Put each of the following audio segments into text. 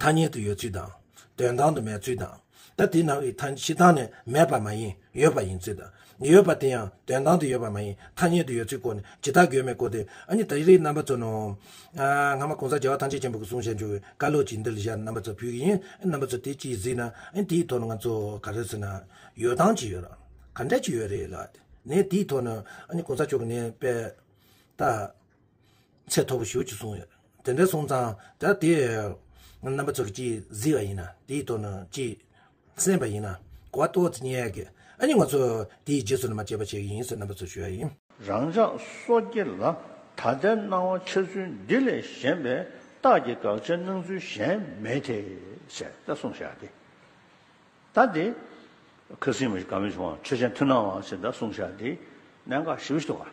ཐ་སྙད་དུ་ཡོད་ཚུལ་དང། དོན་དང་དུ་མེད་ཚུལ་དང། ད་དེ་ནང་གི་ཐ་ཕྱི་དང་ནི་མེད་པ་མ་ཡིན་ཡོད་པ་ཡིན་ཚུལ་དང། ཡོད་པ་དེ་ཡང་དོན་དང་དུ་ཡོད་པ་མ་ཡིན་ཐ་སྙད་དུ་ཡོད་ཚུལ་སྐོར་ནི་ཇི་ལྟར་དགོས་མེད་སྐོར་ཏེ། ཨ་ནི་ད་རེས་རྣམ་པ་ཚོ་ནོ། སྔ་མ་གོང་ས་རྒྱལ་བ་ཐམས་ཅད་མཁྱེན་པ་གི་གསུང་བཤད་འབྱུང་བའི་བཀའ་སློབ་ཅིག་འདིར་བཞག་རྣམ་པ་ཚོ་ཕུལ་གྱི་ཡིན། རྣམ་པ་ཚོ་དེ་ཅིའི་གཟིགས་ན། དེའི་ཐོག་ནས་ང་ཚོ་ག་རེ་ཟེར་ན། ཡོ་ཏང་ཅིག་ཡོད། ག་འདྲ་ཅིག་ཡོད་རེད་ལགས། ནས་དེའི་ཐོག་ནས། ཨ་ནི་གོང་ས་མཆོག་གི་ནས་དཔལ། ད། ཚད་མཐོ་པོ་ཞུ་ཅེས་གསུངས་ཡོད། དེ་འདྲའི་སོང་ཙང་ད་དེ་རྣམ་པ་ཚོར་གྱིས་བཟི་བ་ཡིན་ན་དེའི་ཐོག་ནས་གྱིས་གསན་པ་ཡིན་ན་གོ་བ་ཏོག་ཙེ་རྙེད་ཡག་གི་ཨ་ནི་ང་ཚོ་དེའི་རྗེས་སུ་ནི་མ་བྱས་པ་བྱེད་ཀྱི་ཡིན་ཟེར་རྣམ་པ་ཚོར་ཞུ་བ་ཡིན། རང་ཅག་སོ་སྐྱེ་ལ་ད་ལྟའི་སྣང་བ་འཆར་ཚུལ་འདི་ལས་གཞན་པའི་རྟགས་ཀྱི་དགག་བྱའི་སྣང་ཚུལ་གཞན་མེད་དེ། ཞེས་ད་གསུངས་བཞག་སྟེ། ད་དེ། ཁ་སིམ་མེ་ག་མེ་བྱུང་བ་ཆོས་ཅན་མཐུན་ནའང་ཞེས་ད་གསུངས་བཞག་སྟེ། གནད་འགག་བཞི་བཞི་ཐོག་ཁ།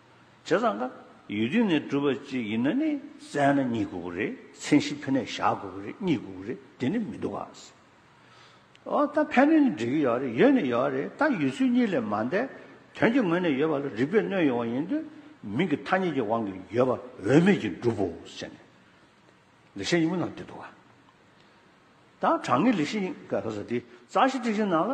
བྱས་ཙང་ཀ་ཡུལ་དུས་ནས་གྲུབ་པ་ཅིག་ཡིན་ན་ནི་བཙལ་ན་གཉིད་དགོས་པོ་རེད་མཚན་གཞི་ཕན་ནས་བཞག་དགོས་པོ་རེད་གཉིད་དགོས་པོ་རེད་དེ་ནི་མི་འདུག་ཨ། ཨོ་ད་ཕན་ནུས་ནི་འགྲིག་གི་ཡོད་རེད་ཡོད་ནི་ཡོད་རེད་ད་ཡུལ་ཚུལ་གཉིས་ལས་མ་འདས་དོན་གྱི་ངོས་ནས་ཡོད་པ་ལ་རིག་པས་གནོད་ཡོང་བ་ཡིན་དུས་མིང་གི་ཐ་སྙད་ཀྱི་དབང་གིས་ཡོད་པ་འོས་མེད་ཀྱིས་འགྲུབ་བོ་ཟེར་ནས་ལི་ཤེ་དབྱིངས་ལ་འདུད་འདུག་ཨ། ད་དྲང་ངེས་ལི་ཤེ་དབྱིངས་ཀ་ཁ་ས་དེའི་རྩ་ཤེ་སྤྲིས་ཤིང་ནང་ལ།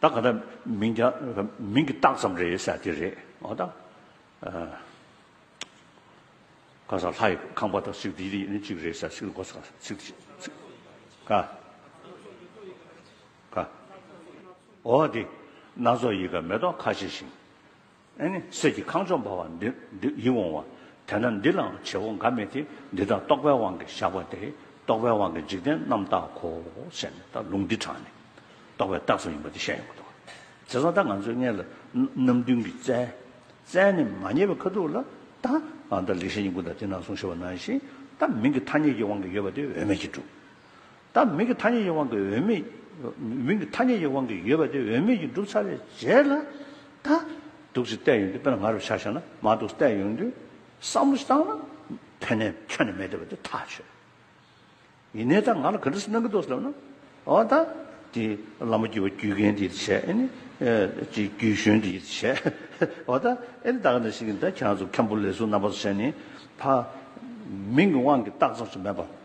ད་ག་དང་མིང་གྱ་མིང་གྱི་རྟགས་ཙམ་རེད་ས་དེ་རེད་ཨོ་ད། ག་ས་ལྷ་ཡི་ཁང་པ་དང་སིག་དེ་རིགས་ནི་གཅིག་རེད་ས་སིག་གོ་ས་སིག་དེ་སིག་ག་ག་ཨོ་དེ་སྣ་ཚོགས་ཡི་ག་མེ་ཏོག་ཁ་ཤས་ཤིང། ཨེ་ནི་གསེར་གྱི་ཁང་ལྕོག་འབར་བ་འདི་འདི་ཡིད་འོང་བ། དེ་ན་འདི་ལའང་བྱེད་པོ་འགའ་མེད་དེ་འདི་དག་རྟོག་པའི་དབང་གིས་བཞག་པ་སྟེ་རྟོག་པའི་དབང་གིས་འཇིག་རྟེན་རྣམ་དག་གོ། ཞེས་ནི་ད་ལུང་འདི་དྲངས་ནས། རྟོག་པའི་རྟགས་སུ་ཡིན་པ་འདི་བཤད་ཡོང་གི་འདུག། དེ་སང་ད་ང་ཚོས་མངལ་ལ་རྣམ་བདུན་གྱི་རྩལ། རྩལ་ནི་མ་རྙེད་པའི་ཁ་ཐུག་ལ། ད་ང་ད་ལེགས་བཤད་ཉིད་ཀུན་དང་དེ་ནང་གསུང་ཤེས་པ་ནང་བཞིན། ད་མིང་གི་ཐ་སྙད་ཀྱི་དབང་གིས་ཡོད་པ་དེ་འོས་མེད་ཀྱིས་གྲུབ། ད་མིང་གི་ཐ་སྙད་ཀྱི་དབང་གིས་འོས་མི། མིང་གི་ཐ་སྙད་ཀྱི་དབང་གིས་ཡོད་པ་དེ་འོས་མི་ཡིན་གྲུབ་ཚར་བའི་རྗེས་ལ། ད། སྡུག་ཅིག་བལྟས་ཡོང་དུས་དཔེར་ན་ང་རུ་ཆགས་ཤེས་ན་མ་སྡུག་བལྟས་ཡོང་དུས་བསམ་བློ་བཏང་ན། ཕན་ནས་ཁྱོན་ནས་མེད་བསྡད་པ་དེ་ཐག་ཆོད། ཡིན་ནའི་ད་ང་ལ་ག་འདྲ་ཞིག་གནང་གི་འདུག་ཟེར་ན། འོ་ད། དེ་ལ་མ་བརྒྱུས་པ་བརྒྱུས་མཁན་དེས་བྱས། ཨེ་ནི། དེ་བརྒྱུས་གཞོན་དེས་བྱས། འོ་ད། ཨེ་ནི་ད་ག་འདྲ་ཞིག་གིས་ད་ཁྱེད་རང་ཚོ་མཁན་པོ་ལས་ཟུར་རྣམ་པ་ཚོ་བྱས་ནས། ད། མིང་གི་དབང་གིས་རྟགས་ཙམ་ཞིག་མེད་པ།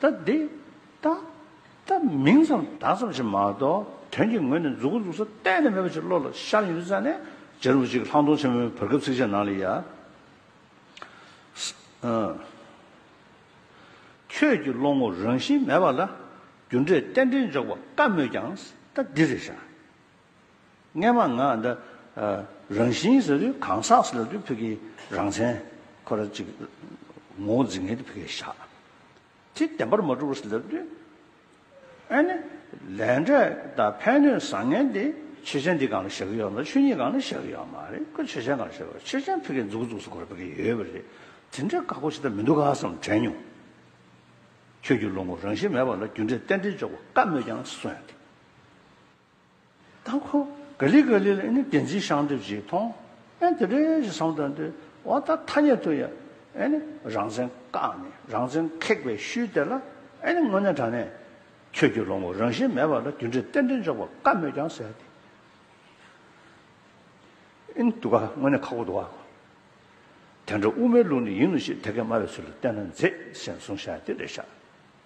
ད་འདི་ལྟ་སྟེ། མིང་ཙམ་བརྡ་ཙམ་ཞིག་མ་གཏོགས་དོན་གྱི་ངོས་ནས་འཛུགས་འགོ་འཛུགས་ས་གཏན་ནས་མེད་པ་ཞིག་བློ་ལ་ཤར་ཡོད་ས་ནས་རྗེ་རིན་པོ་ཆེ་གི་ལྷག་མཐོང་ཆེན་མོའི་བར་སྐབས་ཚིགས་བཅད་ནང་ལ་ཡང། ཁྱོད་ཀྱི་བློ་ངོར་རང་བཞིན་མེད་པ་ལ་རྒྱུ་འབྲས་རྟེན་འབྲེལ་འཇོག་པ་དཀའ་མོད་ཀྱང་ད་འདི་རེད་བཞག། སྔས་མ་ང་འདི་རང་བཞིན་ཟེར་དུས་གང་ཟག་ཟེར་དུས་ཕི་གི་རང་མཚན་ཁོ་ར་ཅིག་ངོ་བོ་འཛིན་ངེས་དུ་ཕི་གའི་ཞག་ཁྲི་བདེན་པར་མ་གྲུབ་བོ་ཟེར་དུས་ཨེ་ནི་ལས་འབྲས་དང་ཕན་ནུས་བཟང་ངན་དེ་ཆོས་ཅན་འདི་གང་ལ་བཞག་གི་ཡོད་ན་ཆོས་ཉིད་གང་ལ་བཞག་གི་ཡོད་མ་རེད་ཁོ་ཆོས་ཅན་གང་ལ་བཞག་གི་ཆོས་ཅན་ཕི་གའི་མཛུག་བཙུགས་སུ་ཁོ་ར་ཕི་གི་ཡོད་པ་རེད་དེ་འདྲའི་བཀའ་བསྒོ་ཇི་ལྟར་མི་འདུག་ག་བསམ་དྲན་མྱོང། ཁྱོད་ཀྱི་བློ་ངོར་རང་བཞིན་མེད་པ་ལ་རྒྱུ་འབྲས་གཏན་བྲལ་འཇོག་པ་བཀའ་སྨོས་ཀྱང་གསོན། ད་ཁོ་ག་ལི་ག་ལི་ལ་ཨེ་ནི་བདེན་ཚིག་ཤངས་འདེབས་ཅིག་མཐོང་ཨེ་འདི་འདྲའི་ཞིག་བསམ་དོན་དེ་འོ་ད་ཐ་སྙད་དུ་ཡ་ཨེ་ནི་རང་བཙན་བཀག་ནས་རང་བཙན་ཁེགས་པའི་ཤུལ་དེ་ལ་ཨེ་ནི་དངོས་གནས་དྲང་གནས་ཁྱོད་ཀྱི་ལོ་ངོ་རང་བཞིན་མེད་པ་ལ་རྒྱུ་འབྲས་གཏན་འབྲེལ་འཇོག་པ་དཀའ་མོད་ཀྱང་ཟེར་ཏེ་ཨེ་ནི་འདུག་ག་དངོས་གནས་ཁག་པོ་འདུག་ག་དེ་འདྲ་དབུ་མའི་ལུགས་ནི་ཡིན་ནོ་ཞེས་དེ་སྐད་སྨྲ་བའི་ཚུལ་ལ་བལྟས་ན་མཛེས་སེམས་བཟུང་བཞག་ཏེ་རེད་ཤག།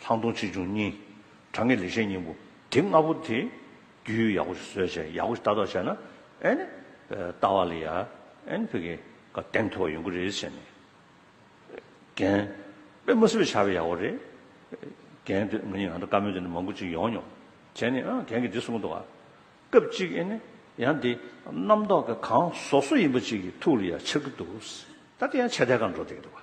ལྷག་མཐོང་ཆེ་ཆུང་གཉིས། དྲང་ངེས་ལེགས་བཤད་སྙིང་པོ། དེ་ལྔ་པོ་དེ། རྒྱུད་ཡིག་ཡག་པོ་ཞིག་བཟོས་བྱས་ཡག་པོ་ཞིག་ལྟ་རྟོག་བྱས་ན། ཨེ་ནི། ལྟ་བ་ལ་ཡ། ཨེ་ནི་ཕི་གེ། ཀ་གདེང་མཐོ་བ་ཡོང་གི་རེད་ཟེར་ནས། རྒན། པད་མ་སེར་པོས་བྱ་བའི་ཡག་པོ་རེད། རྒན། དུས་ངེད་གཉིས་ང་ཚོ་བཀའ་མོལ་དེ་འདྲ་མང་པོ་ཅིག་ཡོང་མྱོང། བྱས་ནས། ཨང། རྒན་གྱིས་འདི་གསུང་གི་འདུག་ཨ། སྐབས་གཅིག་ཨེ་ནི། ཡང་འདི། རྣམ་རྟོག་གི་གང། ཟོག་སོ་ཡིན་པ་ཅིག་གི་ཐུགས་ལ་ཡ་འཆར་གི་འདུག། ད་འདི་ཡང་ཆད་ཐལ་ཁར་འགྲོ་བསྡད་ཀྱི་འདུག་ཨ།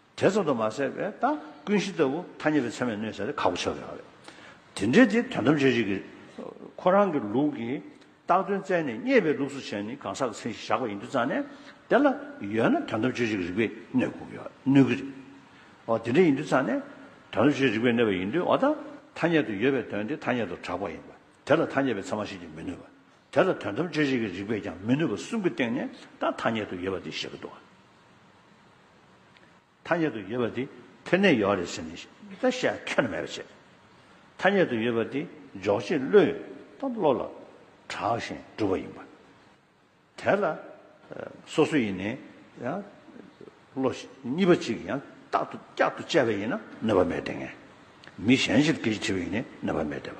དེ་ཙམ་དུ་མ་ཟད་པས་ད་ཀུན་གཞི་ལྟ་བུ་ཐ་སྙད་པའི་ཚད་མས་གནོད་བྱ་སྟེ་ཁག་པོ་ཆགས་ཡོད་པ་རེད། དེ་འདྲའི་དེ་དོན་ཐམས་ཅད་གཅིག་གི། ཁོ་རང་གི་ལུགས་ཀྱིས་རྟགས་དོན་བཙལ་ནས་རྙེད་པའི་ལུགས་སུ་བྱས་ནས་གང་ཟག་གི་མཚན་གཞི་བཞག་པ་ཡིན་དུ་བརྩམས་ནས། དེ་ལ་ཡོད་ན་དོན་ཐམས་ཅད་གཅིག་གི་རིགས་པས་གནོད་དགོས་ཀྱི་གནོད་ཀྱི་རེད། འོ་དེ་འདྲ་ཡིན་དུ་བརྩམས་ནས། དོན་ཐམས་ཅད་རིགས་པས་གནོད་པ་ཡིན་དུས་འོ་ད་ཐ་སྙད་དུ་ཡོད་པའི་དོན་དེ་ཐ་སྙད་དུ་གྲགས་པ་ཡིན་པ། དེ་ལ་ཐ་སྙད་པའི་ཚད་མ་ཤེས་ཀྱི་མི་ནུས་པ། དེ་ལ་དོན་ཐམས་ཅད་གཅིག་གི་རིགས་པས་ཀྱང་མི་ནུས་པ་གསུམ་གྱི་སྟེང་ནས་ད་ཐ་སྙད་དུ་ཡོད་པ་དེ་བཞག་གི་འདུག་ག། ཐ་སྙད་དུ་ཡོད་པ་དེ་ཐོན་ནས་ཡོང་བ་རེད་ཟེར་ནས་ད་བཤད་ཁྱོན་མེད་པ་བྱས། ཐ་སྙད་དུ་ཡོད་པ་དེ་འཇོག་བྱེད་བློས་དང་བློ་ལ་གྲགས་ཤིང་གྲུབ་པ་ཡིན་པ། དེ་ལ་སོ་སོ་ཡིན་ནའི་ཡང་བློ་གཉིས་པ་ཅིག་ཡང་དག་ཏུ་བསྐྱར་དུ་དཔྱད་པ་ཡིན་ན་གནོད་པ་མེད་དེ་ངས་མི་གཞན་ཕྱིར་སྐད་ཅིག་དྲི་བ་ཡིན་ནའི་གནོད་པ་མེད་དེ་བ།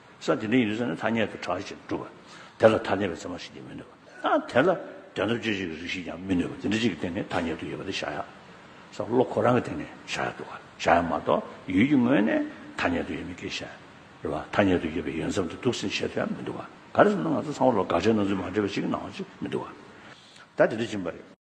ས་དེ་འདྲ་ཡིན་ཟེར་ན་ཐ་སྙད་དུ་གྲགས་ཅིང་གྲུབ་པ། དེ་ལ་ཐ་དད་པའི་ཚད་མ་ཞིག་ཀྱང་མི་ནུས་པ། ད་དེ་ལ་དོན་དམ་དཔྱོད་བྱེད་ཀྱི་རིགས་ཤིག་ཀྱང་མི་ནུས་པ་འདི་འདྲ་གཅིག་གི་སྟེང་ནས་ཐ་སྙད་དུ་ཡོད་པ་དེ་བཞག་ཡག། ས་བློ་ཁོ་རང་གི་སྟེང་ནས་བཞག་ཡག་འདུག་ག་བཞག་ཡག་མ་གཏོགས་ཡུལ་གྱི་ངོས་ནས་ཐ་སྙད་དུ་ཡོད་མི་དགེ་ཞེན། རེད་བ། ཐ་སྙད་དུ་ཡོད་པའི་ཡོན་ཚབ་འདི་འདུག་ཟིན་བྱེད་དུ་ཡང་མི་འདུག་ག་ག་རེ་ཟེར་ན་ང་ཚོ་ཚང་མ་ལོ་དགག་བྱའི་སྣང་ཚུལ་མ་འདྲེས་པ་ཞིག་གི་ནང་བ་ཅིག་མི་འདུག་ག། ད་དེ་འདྲ་སྦྱིན་པ་རེད།